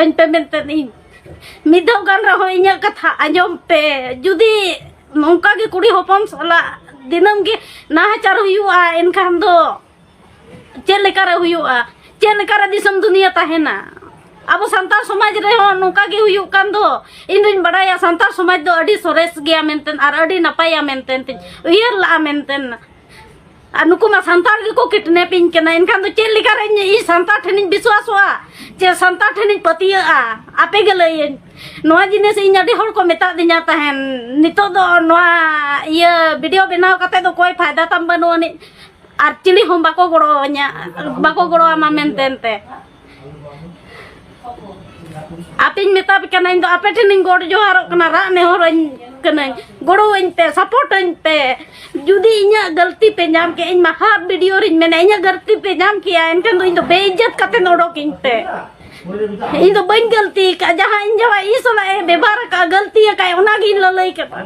ᱟᱹᱧ ᱯᱮ ᱢᱮᱱᱛᱮ ᱤᱧ ᱢᱤᱫ ᱫᱷᱟᱣ ᱜᱟᱱ ᱨᱮᱦᱚᱸ ᱤᱧᱟᱹᱜ ᱠᱟᱛᱷᱟ ᱟᱸᱡᱚᱢ ᱯᱮ ᱡᱩᱫᱤ ᱱᱚᱝᱠᱟ ᱜᱮ ᱠᱩᱲᱤ ᱦᱚᱯᱚᱱ ᱥᱟᱞᱟᱜ ᱫᱤᱱᱟᱹᱢ ᱜᱮ ᱱᱟᱦᱟᱪᱟᱨ ᱦᱩᱭᱩᱜᱼᱟ ᱮᱱᱠᱷᱟᱱ ᱫᱚ ᱪᱮᱫ ᱞᱮᱠᱟᱨᱮ ᱦᱩᱭᱩᱜᱼᱟ ᱪᱮᱫ ᱞᱮᱠᱟᱨᱮ ᱫᱤᱥᱚᱢ ᱫᱩᱱᱤᱭᱟᱹ ᱛᱟᱦᱮᱱᱟ ᱟᱵᱚ ᱥᱟᱱᱛᱟᱲ ᱥᱚᱢᱟᱡᱽ ᱨᱮᱦᱚᱸ ᱱᱚᱝᱠᱟ ᱜᱮ ᱦᱩᱭᱩᱜ ᱠᱟᱱ ᱫᱚ ᱤᱧ ᱫᱚᱧ ᱵᱟᱲᱟᱭᱟ ᱥᱟᱱᱛᱟᱲ ᱥᱚᱢᱟᱡᱽ ᱫᱚ ᱟᱹᱰᱤ ᱥᱚᱨᱮᱥ ᱜᱮᱭᱟ ᱢᱮᱱᱛᱮ ᱟᱨ ᱟᱹᱰᱤ ᱱᱟᱯᱟᱭᱟ ᱢᱮᱱᱛᱮ ᱩᱭᱦᱟᱹᱨ ᱞᱟᱜᱼᱟ ᱢᱮᱱᱛᱮ ᱟᱨ ᱱᱩᱠᱩ ᱢᱟ ᱥᱟᱱᱛᱟᱲ ᱜᱮᱠᱚ ᱠᱤᱰᱱᱮᱯᱤᱧ ᱠᱟᱱᱟ ᱮᱱᱠᱷᱟᱱ ᱫᱚ ᱪᱮᱫ ᱞᱮᱠᱟ ᱨᱮ ᱤᱧ ᱥᱟᱱᱛᱟᱲ ᱴᱷᱮᱱᱤᱧ ᱵᱤᱥᱣᱟᱥᱚᱜᱼᱟ ᱪᱮ ᱥᱟᱱᱛᱟᱲ ᱴᱷᱮᱱᱤᱧ ᱯᱟᱹᱛᱭᱟᱹᱜᱼᱟ ᱟᱯᱮ ᱜᱮ ᱞᱟᱹᱭᱟᱹᱧ ᱱᱚᱣᱟ ᱡᱤᱱᱤᱥ ᱤᱧ ᱟᱹᱰᱤ ᱦᱚᱲ ᱠᱚ ᱢᱮᱛᱟ ᱫᱤᱧᱟ ᱛᱟᱦᱮᱱ ᱱᱤᱛᱚᱜ ᱫᱚ ᱱᱚᱣᱟ ᱤᱭᱟᱹ ᱵᱷᱤᱰᱤᱭᱳ ᱵᱮᱱᱟᱣ ᱠᱟᱛᱮ ᱫᱚ ᱠᱚᱭ ᱯᱷᱟᱭᱫᱟ ᱛᱟᱢ ᱵᱟᱹᱱᱩᱜ ᱟᱹᱱᱤᱡ ᱟᱨ ᱪᱤᱞᱤ ᱦᱚᱸ ᱵᱟᱠᱚ ᱜᱚᱲᱚ ᱟᱹᱧᱟ ᱵᱟᱠᱚ ᱜᱚᱲᱚ ᱟᱢᱟ ᱢᱮᱱᱛᱮ ᱟᱯᱮᱧ ᱢᱮᱛᱟ ᱯᱮ ᱠᱟᱱᱟ ᱤᱧ ᱫᱚ ᱟᱯᱮ ᱴᱷᱮᱱᱤᱧ ᱜᱚᱰ ᱡᱚᱦᱟᱨᱚᱜ ᱠᱟᱱᱟ ᱨᱟᱜ ᱱᱮᱦᱚᱨᱟᱹᱧ ᱠᱟᱹᱱᱟᱹᱧ ᱜᱚᱲᱚᱣᱟᱹᱧ ᱯᱮ ᱥᱟᱯᱳᱨᱴᱟᱹᱧ ᱯᱮ ᱡᱩᱫᱤ ᱤᱧᱟᱹᱜ ᱜᱟᱹᱞᱛᱤ ᱯᱮ ᱧᱟᱢ ᱠᱮ ᱤᱧ ᱢᱟᱦᱟ ᱵᱷᱤᱰᱤᱭᱳ ᱨᱤᱧ ᱢᱮᱱᱟ ᱤᱧᱟᱹᱜ ᱜᱟᱹᱞᱛᱤ ᱯᱮ ᱧᱟᱢ ᱠᱮᱭᱟ ᱮᱱᱠᱷᱟᱱ ᱫᱚ ᱤᱧ ᱫᱚ ᱵᱮᱤᱡᱡᱚᱛ ᱠᱟᱛᱮ ᱚᱰᱚᱠᱤᱧ ᱯᱮ ᱤᱧ ᱫᱚ ᱵᱟᱹᱧ ᱜᱟᱹᱞᱛᱤ ᱟᱠᱟᱫ ᱡᱟᱦᱟᱸ ᱤᱧ ᱡᱟᱦᱟᱸ ᱤᱧ ᱥᱟᱞᱟᱜ ᱮ ᱵᱮᱵᱷᱟᱨ ᱟᱠᱟᱫ ᱜᱟᱹᱞᱛᱤ ᱟᱠᱟᱫ ᱚᱱᱟᱜᱤᱧ ᱞᱟᱹᱞᱟᱹᱭ ᱠᱟᱫᱟ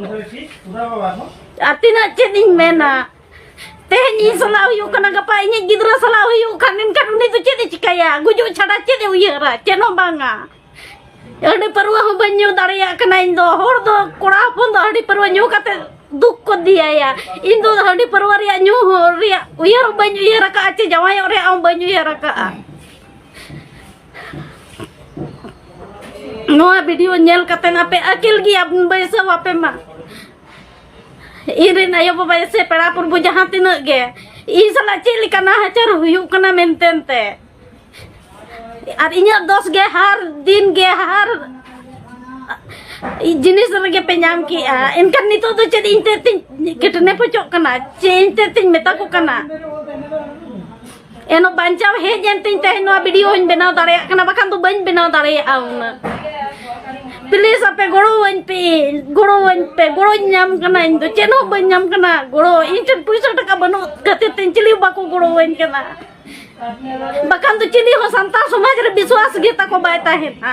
ᱟᱨ ᱛᱤᱱᱟᱹᱜ ᱪᱮᱫ ᱤᱧ ᱢᱮᱱᱟ ᱛᱮᱦᱮᱧ ᱤᱧ ᱥᱟᱞᱟᱜ ᱦᱩᱭᱩᱜ ᱠᱟᱱᱟ ᱜᱟᱯᱟ ᱤᱧᱤᱡ ᱜᱤᱫᱽᱨᱟᱹ ᱥᱟᱞᱟᱜ ᱦᱩᱭᱩᱜ ᱠᱷᱟᱱ ᱮᱱᱠᱷᱟᱱ ᱩᱱᱤ ᱫᱚ ᱪᱮᱫ ᱮ ᱪᱤᱠᱟᱹᱭᱟ ᱜᱩᱡᱩᱜ ᱪᱷᱟᱰᱟ ᱪᱮᱫ ᱮ ᱩᱭᱦᱟᱹᱨᱟ ᱪᱮᱫ ᱦᱚᱸ ᱵᱟᱝᱟ ᱟᱹᱰᱤ ᱯᱟᱹᱨᱣᱟᱹ ᱦᱚᱸ ᱵᱟᱹᱧ ᱧᱩ ᱫᱟᱲᱮᱭᱟᱜ ᱠᱟᱱᱟ ᱤᱧ ᱫᱚ ᱦᱚᱲ ᱫᱚ ᱠᱚᱲᱟ ᱦᱚᱯᱚᱱ ᱫᱚ ᱟᱹᱰᱤ ᱯᱟᱹᱨᱣᱟᱹ ᱧᱩ ᱠᱟᱛᱮ ᱫᱩᱠ ᱠᱚ ᱫᱤᱭᱟᱭᱟ ᱤᱧ ᱫᱚ ᱟᱹᱰᱤ ᱯᱟᱹᱨᱣᱟᱹ ᱨᱮᱭᱟᱜ ᱧᱩ ᱦᱚᱸ ᱨᱮᱭᱟᱜ ᱩᱭᱦᱟᱹᱨ ᱦᱚᱸ ᱵᱟᱹᱧ ᱩᱭᱦᱟᱹᱨ ᱟᱠᱟᱫᱼᱟ ᱪᱮ ᱡᱟᱶᱟᱭᱚᱜ ᱨᱮᱭᱟᱜ ᱦᱚᱸ ᱵᱟᱹᱧ ᱩᱭᱦᱟᱹᱨ ᱟᱠᱟᱫᱼᱟ ᱱᱚᱣᱟ ᱵᱷᱤᱰᱤᱭᱳ ᱧᱮᱞ ᱠᱟᱛᱮ ᱟᱯᱮ ᱟᱹᱠᱤᱞ ᱜᱮᱭᱟ ᱵᱟᱹᱭᱥᱟᱹᱣ ᱟᱯᱮ ᱢᱟ ᱤᱧᱨᱮᱱ ᱟᱭᱳ ᱵᱟᱵᱟ ᱥᱮ ᱯᱮᱲᱟ ᱯᱩᱨᱵᱚ ᱡᱟᱦᱟᱸ ᱛᱤᱱᱟᱹᱜ ᱜᱮ ᱤᱧ ᱥᱟᱞᱟᱜ ᱪᱮᱫ ᱞᱮᱠᱟ ᱱᱟᱦᱟᱪᱟᱨ ᱦᱩᱭᱩᱜ ᱠᱟᱱᱟ ᱢᱮᱱᱛᱮ ᱛᱮ ᱟᱨ ᱤᱧᱟᱹᱜ ᱫᱚᱥ ᱜᱮ ᱦᱟᱨ ᱫᱤᱱ ᱜᱮ ᱦᱟᱨ ᱡᱤᱱᱤᱥ ᱨᱮᱜᱮ ᱯᱮ ᱧᱟᱢ ᱠᱮᱜᱼᱟ ᱮᱱᱠᱷᱟᱱ ᱱᱤᱛᱚᱜ ᱫᱚ ᱪᱮᱫ ᱤᱧ ᱛᱮ ᱛᱤᱧ ᱠᱮᱴᱱᱮᱯ ᱦᱚᱪᱚᱜ ᱠᱟᱱᱟ ᱪᱮᱫ ᱤᱧ ᱛᱮ ᱛᱤᱧ ᱢᱮᱛᱟ ᱠᱚ ᱠᱟᱱᱟ ᱮᱱᱚ ᱵᱟᱧᱪᱟᱣ ᱦᱮᱡ ᱮᱱ ᱛᱤᱧ ᱛᱮᱦᱮᱧ ᱱᱚᱣᱟ ᱵᱷᱤᱰᱤᱭᱳ ᱦᱚᱧ ᱵᱮᱱᱟᱣ ᱫᱟᱲᱮᱭᱟᱜ ᱠᱟᱱᱟ ᱵᱟᱠᱷᱟᱱ ᱫᱚ ᱵᱟᱹᱧ ᱵᱮᱱᱟᱣ ᱫᱟᱲᱮᱭᱟᱜᱼᱟ ᱚᱱᱟ ᱯᱞᱤᱡ ᱟᱯᱮ ᱜᱚᱲᱚᱣᱟᱹᱧ ᱯᱮ ᱜᱚᱲᱚᱣᱟᱹᱧ ᱯᱮ ᱜᱚᱲᱚᱧ ᱧᱟᱢ ᱠᱟᱱᱟ ᱤᱧ ᱫᱚ ᱪᱮᱫ ᱦᱚᱸ ᱵᱟᱹᱧ ᱧᱟᱢ ᱠᱟᱱᱟ ᱜᱚᱲᱚ ᱤᱧ ᱴᱷᱮᱱ ᱯᱩᱭᱥᱟᱹ ᱴᱟᱠᱟ ᱵᱟᱹᱱᱩᱜ ᱠᱷᱟᱹᱛᱤᱨ ᱛᱮ ᱪᱤᱞᱤ ᱵᱟᱠᱚ ᱜᱚᱲᱚᱣᱟᱹᱧ ᱠᱟᱱᱟ ᱵᱟᱠᱷᱟᱱ ᱫᱚ ᱪᱤᱞᱤ ᱦᱚᱸ ᱥᱟᱱᱛᱟᱲ ᱥᱚᱢᱟᱡᱽ ᱨᱮ ᱵᱤᱥᱣᱟᱥ ᱜᱮ ᱛᱟᱠᱚ ᱵᱟᱭ ᱛᱟᱦᱮᱱᱟ